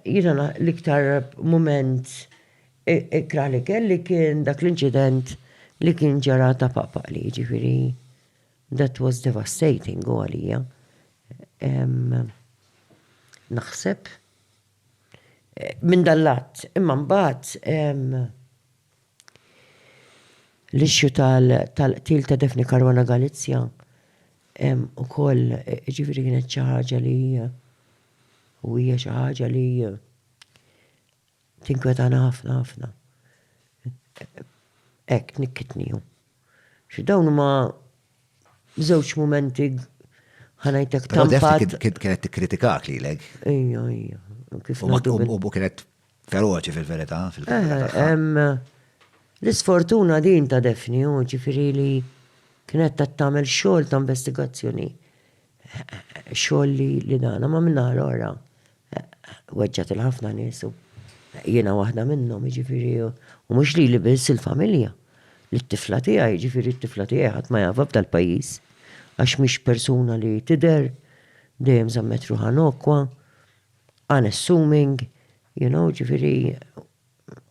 Jiena l-iktar mument ikrah li kelli kien dak l-inċident li kien ġara ta' paqpaq li ġifiri. That was devastating u għalija. Naħseb minn dallat imma mbagħad l-issue tal-qtil ta' Daphne Caruana Galizia u koll ġifiri kienet xi ħaġa li U hija xi ħaġa li tinkwetana ħafna ħafna. Hekk tnikkitnihom. Xi dawn huma żewġ mumenti ħanajtek tampat. Kienet tikkritikak lilek. Ejja, ejja. U kienet feroċi fil-verità fil-kampjun. L-isfortuna din ta' Defni, ġifieri li kienet qed tagħmel xogħol ta' investigazzjoni Xogħol li li nagħna ma min-naħa l-oħra weġġa' til ħafna nies u jiena waħda minnhom jiġifieri u mhux lili biss il-familja. Lit-tifla tiegħi jiġifieri t-tifla tiegħi ħadd ma jafha f'dal pajjiż għax mhix persuna li tidher dejjem żammet ruħha nokwa, unassuming, you know, jiġifieri,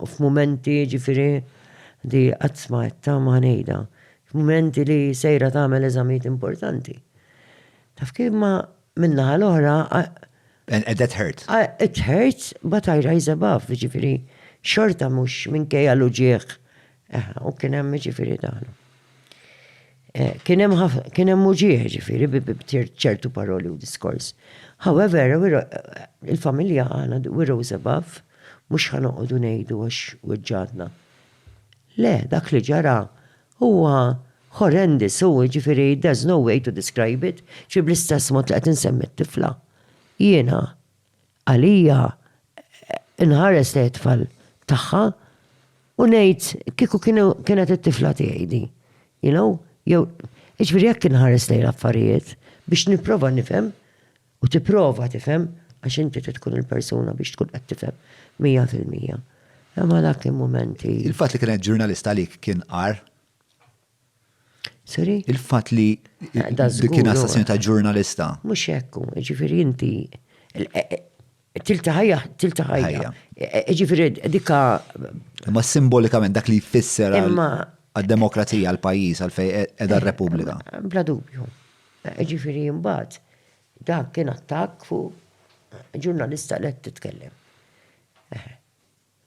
u f'mumenti ġifieri di qatt ma qed tama ħa ngħidha, f'mumenti li sejra tagħmel eżamijiet importanti. Taf kif imma min-naħa l-oħra. And that hurts. It hurts but I rise above, jiġifieri xorta mhux minkejja l-uġigħ Aha, u kien hemm ġifieri dan. Eh, kien hemm kien hemm uġieħ ġifieri bi ċertu paroli u diskors. However, il-familja għana we rose above mhux ħanoqogħdu ngħidu għax weġġadna. Le, dak li ġara huwa horrendous u ġifieri there's no way to describe it, ġi bl-istess mod li qed insemmi t-tifla. Jiena għalija inħares lejn it-tfal tagħha u ngħid kieku kienet it-tifla tiegħi di. You know? Jew, jiġifieri jekk inħares lejn l-affarijiet biex nipprova nifhem u tipprova tifhem għax inti trid tkun il-persuna biex tkun qed tifhem mija fil-mija. Imma dak il-mumenti. Il-fatt li kienet ġurnalista għalik kien għar? Sorry? Il-fat li kien assassinu ta' ġurnalista. Mux ekku, ġifiri inti. Tiltaħajja, tiltaħajja. Ġifiri dikka. Ma simbolikament dak li jfisser għal-demokrazija, għal-pajis, għal-fej edha r-Repubblika. Bla dubju. Ġifiri jimbat, dak kien attak fu ġurnalista li titkellem.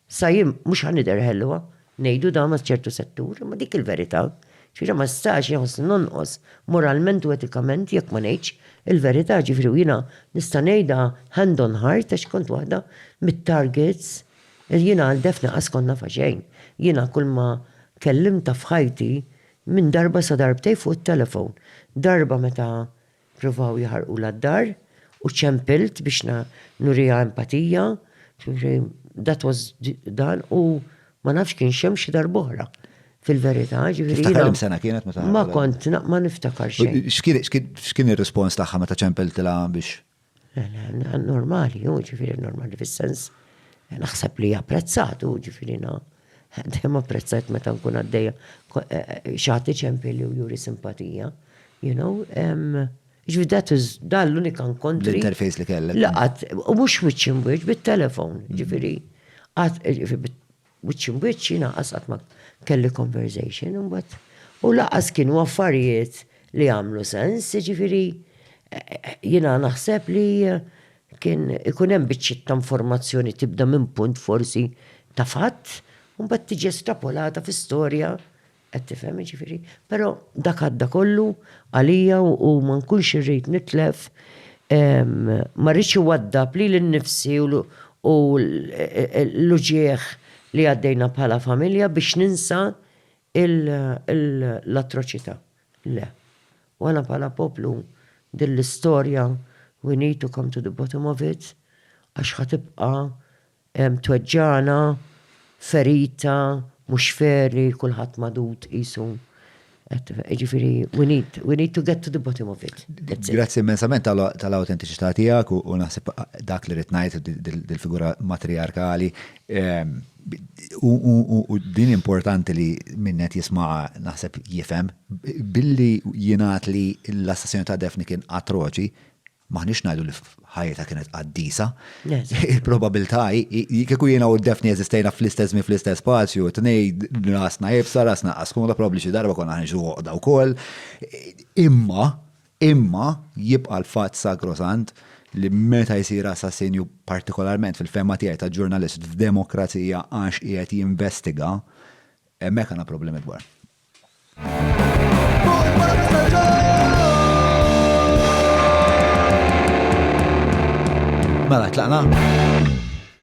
Sa jien mhux ħa nidher ħelwa, ngħidu dan għal ċertu settur, imma dik il-verità. Ġifieri ma nistax inħossni nonqos moralment u etikament jekk ma ngħidx il-verità, ġifieri u jiena nista' ngħidha hand on heart għax kont waħda mit-targets li jiena għal Daphne qas kont nafha xejn. Jiena kulma kellimtha f'ħajti minn darba sa darbtejn fuq it-telephone. Darba meta Pprovaw jaħarqulha d-dar u ċempilt biex nuriha empatija. That was dan u ma nafx kien xem xi darb'oħra fil-verità. Tiftakar sena kienet meta. Ma kont, ma niftakar xejn. X'kien ir-rispons tagħha meta ċempiltilha biex? Normali, ġifieri normali fis-sens naħseb li japprezzat, ġifieri Dejjem apprezzajt meta nkun għaddejja xi ħadd iċempli li u juri simpatija. You know, ġifieri that is dan l-unika nkontri. L-interface li kellek. Laqat, u mhux wiċċ imwiċċ bit-telefon, ġifieri. Wiċċ imwiċċ jiena qas qatt ma kelli conversation imbagħad. U laqas kienu affarijiet li għamlu sens, ġifieri jiena naħseb li Kien ikun hemm biċċiet ta' informazzjoni tibda minn punt forsi ta' fatt u mbagħad tiġi estrapolata fi storja qed tifhem jiġifieri. Però dak għadda kollu għalija u ma nkunx irrid nitlef ma rridx iwaddab lili nnifsi u l-uġigħ li għaddejna bħala familja biex ninsa l-atroċità. Le. U aħna bħala poplu din l-istorja we need to come to the bottom of it għax ħa tibqa' tweġġagħna, ferita, mhux fair li kulħadd magħdud qisu Jiġifieri we need, we need to get to the bottom of it. Grazzi immensament tal-awtentiċità tiegħek u naħseb dak li rid ngħid dil-figura matriarkali. U din importanti li minnet jismaha naħseb jifhem, billi jingħad li l-assassinu ta' Defni kien atroċi, maħniex ngħidu li ħajta kienet qaddisa. Il-probabilità kieku jiena u Defni eżistejna fl-istess mi fl-istess spazju, tnejd rasna jibsa, rasna qaskuna, probabli xi darba konna ħanġu għoqda wkoll. Imma Imma jibqa' l-fatt sagrosant li meta jsir assassinju, partikolarment fil-fehma tiegħi ta' ġurnalist f'demokrazija għax qiegħed jinvestiga, hemmhekk għandna problemi kbar.